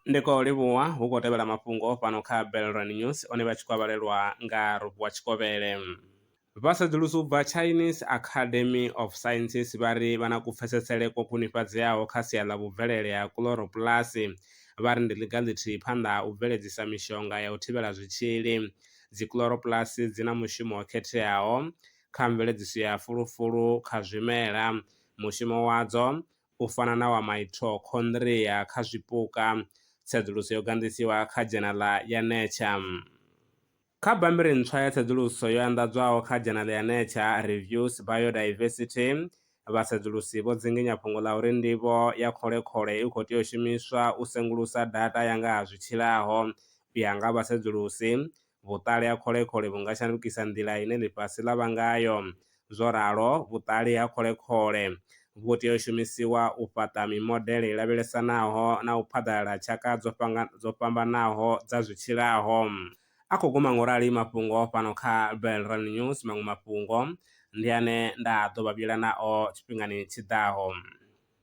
ndi khou livhuwa hu khou tevhela mafhungo fhano kha Belrand News one vha tshi khou vhalelwa nga Rovuwa Tshikovhele. Vha sedzulusi u bva Chinese Academy of Sciences vha ri vha na kupfesesele kwo khwinifhadzeaho kha sia ḽa vhubvelele ha kuḽoropulasi vha ri ndi ḽiga ḽithihi phanḓa ha u bveledzisa mishonga ya u thivhela zwitzhili. Dzikulorobulasi dzi na mushumo wo khetheaho kha mveledziso ya fulufulu kha zwimela Mushumo wadzo, u fana na wa maitokhondria kha zwipuka, tsedzuluso yo ganḓisiwa kha dzhenaḽa ya Nature. Kha bammbiri ntswa ya tsedzuluso yo anḓadzwaho kha dzhenaḽa ya Nature Reviews Biodiversity, vhasedzulusi vho dzinginya fhungo ḽa uri ndivho ya khole-khole i khou tea u shumiswa u sengulusa data ya nga ha zwi tshilaho. U ya nga vhasedzulusi, vhuṱali ha kholekhoḽe vhu nga shandukisa nḓila ine ḽifhasi ḽa vha ngayo. Zwo ralo, vhuṱali ha kholekhoḽe vhu tea u shumisiwa u fhaṱa mimodele i lavhelesanaho na u phaḓalala ha tshaka dzo fhambanaho dza zwi tshilaho. A khou guma ngaurali mafhungo fhano kha Belrand News. Maṅwe mafhungo ndi ane nda ḓo vha vhuyela nao tshifhingani tshi ḓaho.